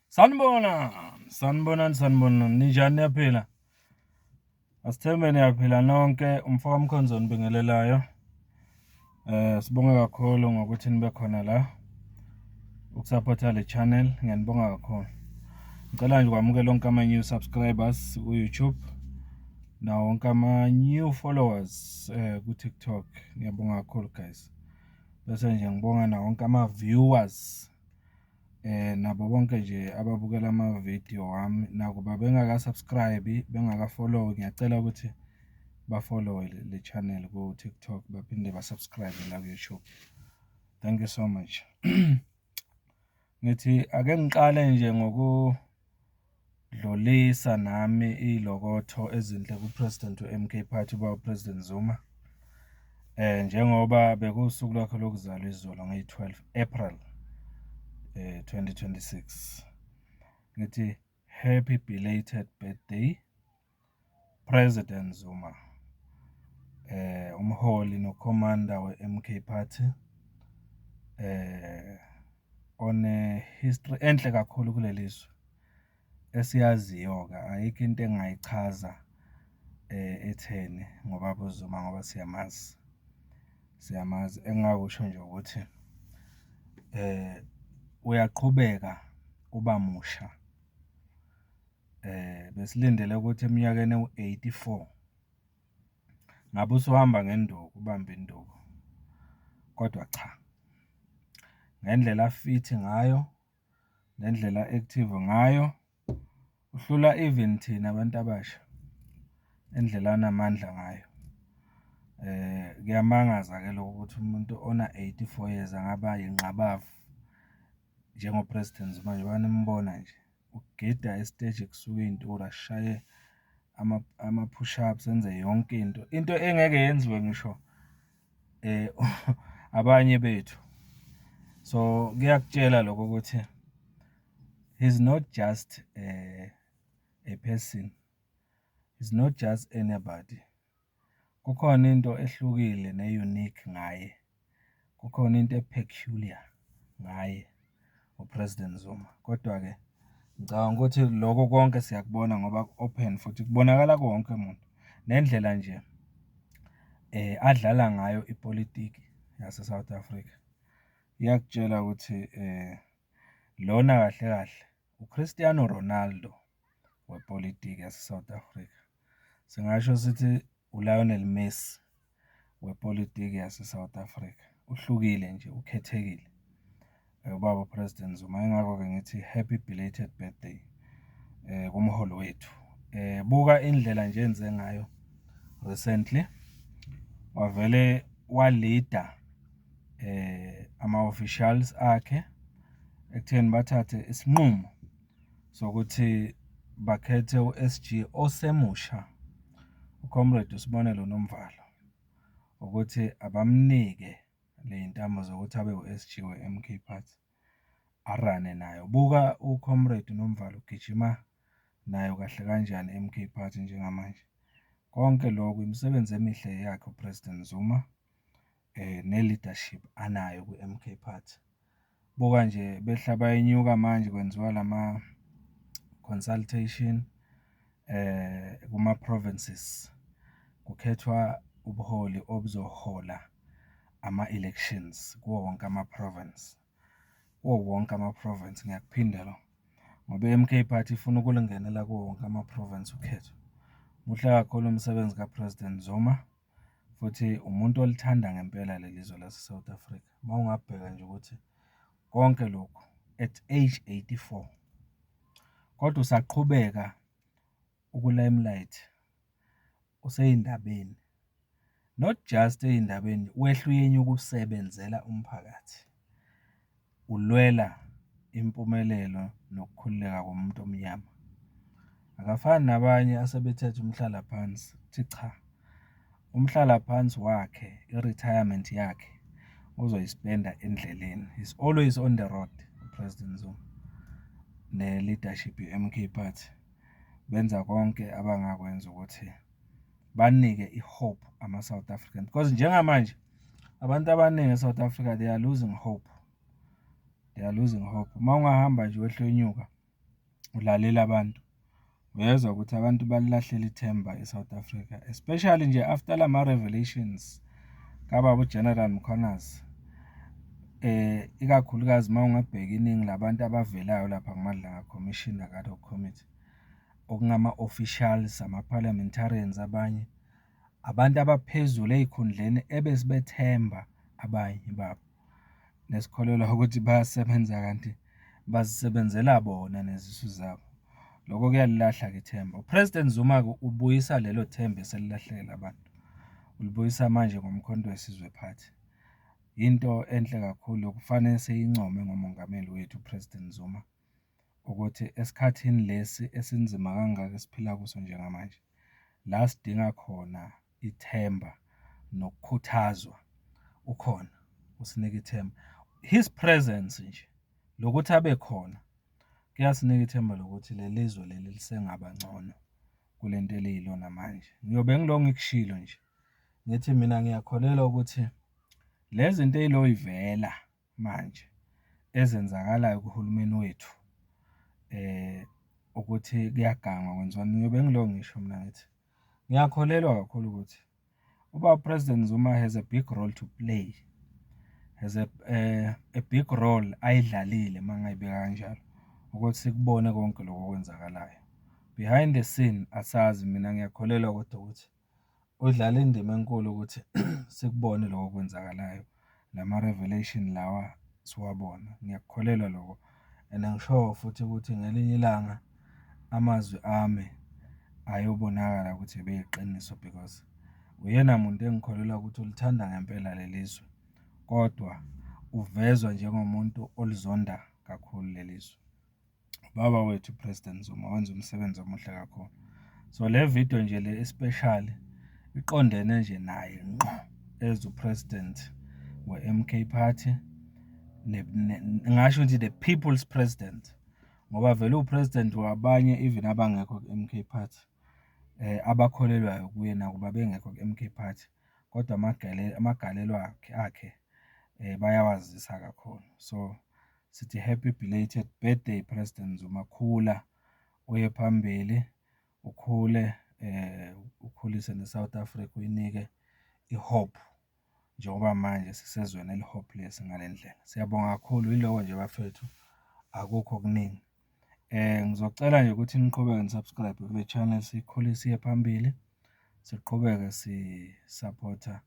Sanibona, sanibonani, sanibonani. Ninjani niyaphila? Asithembe niyaphila nonke. Umfoka Mkhonzoni bingelelayo. Eh sibonga kakhulu ngokuthi nibe khona la. Ukusupporta le channel ngiyanibonga kakhulu. Ngicela nje kwamukela lonke ama new subscribers ku YouTube nawo wonke ama new followers eh ku TikTok. Ngiyabonga kakhulu guys. bese nje ngibonga na wonke ama viewers eh nabo bonke nje ababukela ama video wami nakuba bengaka subscribe bengaka follow ngiyacela ukuthi ba follow le channel ku TikTok baphinde ba subscribe la ku YouTube thank you so much Ngithi ake ngiqale nje ngokudlulisa nami ilokotho ezinhle kuPresident we-MK Party uBaba President Zuma. Eh njengoba bekuwusuku lwakhe lokuzalwa izolo ngeyi-12 April eh 2026. Ngithi happy belated birthday. President Zuma, umholi nokhomanda weMK Party, one-history enhle kakhulu kuleli zwe esiyaziyo-ke, ayikho into engingayichaza etheni ngobaba uZuma ngoba siyamazi, siyamazi. Engingakusho nje ukuthi uyaqhubeka uba musha eh besilindele ukuthi eminyakeni ewu-84 ngabe usuhamba ngenduku ubamba induku kodwa cha ngendlela afithi ngayo ngendlela active ngayo uhlula even thina abantu abasha indlela anamandla ngayo eh kuyamangaza ke lokho ukuthi umuntu ona 84 years angaba yinqabavu njengo president manje banimbona nje ukugida esiteji kusuke iy'ntura sishaye ama-push ups enze yonke into, into engeke yenziwe ngisho abanye bethu. So kuyakutshela lokho ukuthi he's not just a person, he's not just anybody. Kukhona into ehlukile ne-unique ngaye, kukhona into e-peculiar ngaye uPresident Zuma. Kodwa-ke ngicabanga ukuthi loko konke siyakubona ngoba ku-open futhi kubonakala kuwo wonke umuntu. Nendlela nje adlala ngayo ipolitiki yase-South Africa, iyakutshela ukuthi lona kahle kahle. UCristiano Ronaldo wepolitiki yaseSouth Africa. Singasho sithi uLionel Messi wepolitiki yaseSouth Africa. Uhlukile nje, ukhethekile ubaba uPresident Zuma. Yingakho-ke ngithi happy belated birthday um kumholi wethu. um Buka indlela nje enze ngayo recently wavele walida eh ama-officials akhe ekutheni bathathe isinqumo sokuthi bakhethe u-SG osemusha uComrade uSibonelo Nomvalo ukuthi abamnike ley'ntambo zokuthi abe u-SG we-MK Party arane nayo. Buka uComrade Nomvalo ugijima nayo kahle kanjani i-MK Party njengamanje. Konke lokhu imisebenzi emihle yakhe uPresident Zuma. ne-leadership anayo kwi-M_K party. Buka nje behla bayenyuka manje kwenziwa lama-consultation kuma-provinces, kukhethwa ubuholi obuzohola ama-elections kuwo wonke ama-province, kuwo wonke ama-province, ngiyakuphinde lokho ngoba i-M_K party ifuna ukulungenela kuwo wonke ama-province ukhetho. Muhle kakhulu umsebenzi ka-President Zuma. futhi umuntu olithanda ngempela leli zwe laseSouth Africa. Uma ungabheka nje ukuthi konke lokhu at age 84 kodwa usaqhubeka ukulimelight useyindabeni not just eyindabeni wehluyenye ukusebenzela umphakathi. ulwela impumelelo nokukhululeka komuntu omnyama. Akafani nabanye asebethethe umhlalaphansi, uthi cha umhlalaphansi wakhe i-retirement yakhe uzoyispenda endleleni. He's always on the road uPresident Zuma ne-leadership ye-MK Party benza konke abangakwenza ukuthi banike i-hope ama-South African because njengamanje Abantu abaningi e-South Africa they are losing hope. They are losing hope. Uma ungahamba nje wehlonyuka ulalela abantu uyezwa ukuthi abantu balilahlela ithemba e-South Africa especially nje after lama revelations kababa uGeneral Mkhwanazi eh ikakhulukazi uma ungabheka iningi labantu abavelayo lapha kuMadlanga Commission nakaDoc Committee okungama officials ama parliamentarians abanye Abantu abaphezulu ezikhundleni ebesibethemba abanye babo nesikholelwa ukuthi bayasebenza kanti bazisebenzela bona nezisu zabo. Lokho kuyalilahla ke ithemba. UPresident Zuma-ke ubuyisa lelo themba eselilahlekela abantu. Ulibuyisa manje ngoMkhonto weSizwe Party. Yinto enhle kakhulu yokufanele siyincome ngomongameli wethu uPresident Zuma. ukuthi esikhathini lesi esinzima kangaka esiphila kuso njengamanje, la sidinga khona ithemba nokukhuthazwa, ukhona usinika ithemba. His presence nje, lokuthi abe khona kuyasinika ithemba lokuthi leli zwe leli lisengaba ngcono kule nto eliyilona manje. Ngiyobe ngilo ngikushilo nje, ngithi mina ngiyakholelwa ukuthi le zinto ey'loy'vela. manje ezenzakalayo kuhulumeni wethu ukuthi kuyagangwa kwenziwani, ngiyobe ngilokho ngisho mina ngithi ngiyakholelwa kakhulu ukuthi uBaba President Zuma has a big role to play has a, uh, a big role ayidlalile uma ngayibeka kanjalo ukuthi sikubone konke lokho okwenzakalayo behind the scene asazi mina ngiyakholelwa kodwa ukuthi Udlale indima enkulu ukuthi sikubone loko okwenzakalayo, lama-revelation lawa siwabona. Ngiyakukholelwa loko and angishowo futhi ukuthi ngelinye ilanga amazwi ami ayobonakala ukuthi ebeyiqiniso because uyena muntu engikholelwa ukuthi ulithanda ngempela leli zwe, kodwa uvezwa njengomuntu olizonda kakhulu leli zwe. Ubaba wethu uPresident Zuma wenza umsebenzi omuhle kakhulu. So le video nje le especial iqondene nje naye ngqo as uPresident we-MK Party ngingasho ukuthi the people's president ngoba vele uPresident wabanye even abangekho ku-MK Party eh abakholelwayo kuye nakuba bengekho ku-MK Party kodwa amagalelo akhe eh bayawazisa kakhulu so Sithi happy belated birthday President Zuma khula uye phambili ukhule eh ukhulise ne South Africa uyinike i hope njengoba manje sisezweni eli hopeless ngalendlela. Siyabonga kakhulu yiloko nje bafethu akukho okuningi. Eh ngizocela nje ukuthi niqhubeke ni subscribe kule channel sikhulise iye phambili siqhubeke si supporter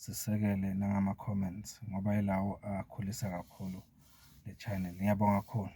sisekele nangama-comments ngoba yilawo akhulisa kakhulu le channel. Ngiyabonga kakhulu.